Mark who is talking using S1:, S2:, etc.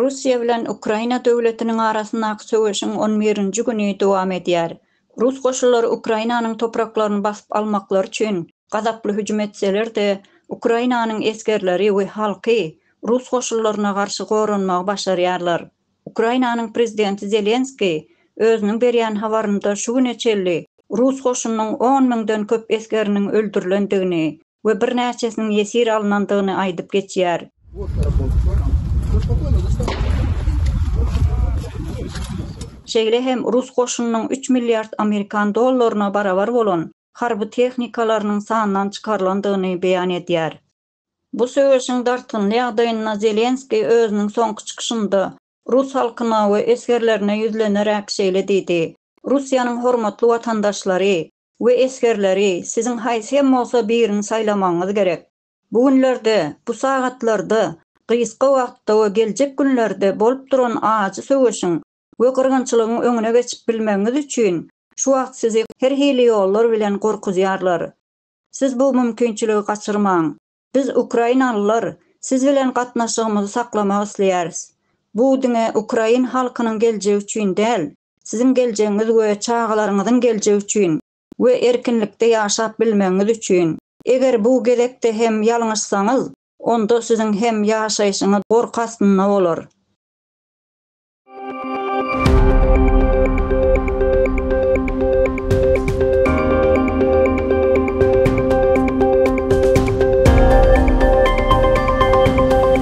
S1: Russiýa bilen Ukraina döwletiniň arasyndaky söweşiň on birinji güni dowam edýär. Rus goşunlary Ukrainanyň topraklaryny basyp almaklary üçin gazaply hüjüm etseler-de, Ukrainanyň esgerleri we halky rus goşunlaryna garşy goranmagy başarýarlar. Ukrainanyň prezidenti Zelenskiý özüniň berýän habarynda şu güne çenli rus goşunynyň on müňden köp esgeriniň öldürilendigini, we birnäçesiniň ýesir alnandygyny aýdyp geçýär. Şeýle hem rus goşunynyň üç milliard amerikan dollaryna barabar bolan harby tehnikalarynyň sandan çykarylandygyny beýan edýär. Bu söweşiň dartgynly ýagdaýynda Zelenskiý özüniň soňky çykyşynda rus halkyna we esgerlerine ýüzleneräk şeýle diýdi, Russiýanyň hormatly watandaşlary, We esgerleri, siziň haýsy hem bolsa birini saýlamagyňyz gerek. Bu günlerde, bu sagatlarda, gysga wagtda we geljek günlerde bolup duran ajy söweşiň we gyrgynçylygyň öňüne geçip bilmegiňiz üçin, şu wagt sizi her hili ýollar bilen gorkuzýarlar. Siz bu mümkinçiligi gaçyrmaň. Biz, ukrainalylar, siz bilen gatnaşygymyzy saklamak isleýäris. Bu diňe ukrain halkynyň geljegi üçin däl, Siziň geljegiňiz we çagalaryňyzyň geljegi üçin we erkinlikde ýaşap bilmegiňiz üçin. Eger bu gezekde hem ýalňyşsaňyz, onda siziň hem ýaşaýşyňyz gorky astynda bolar.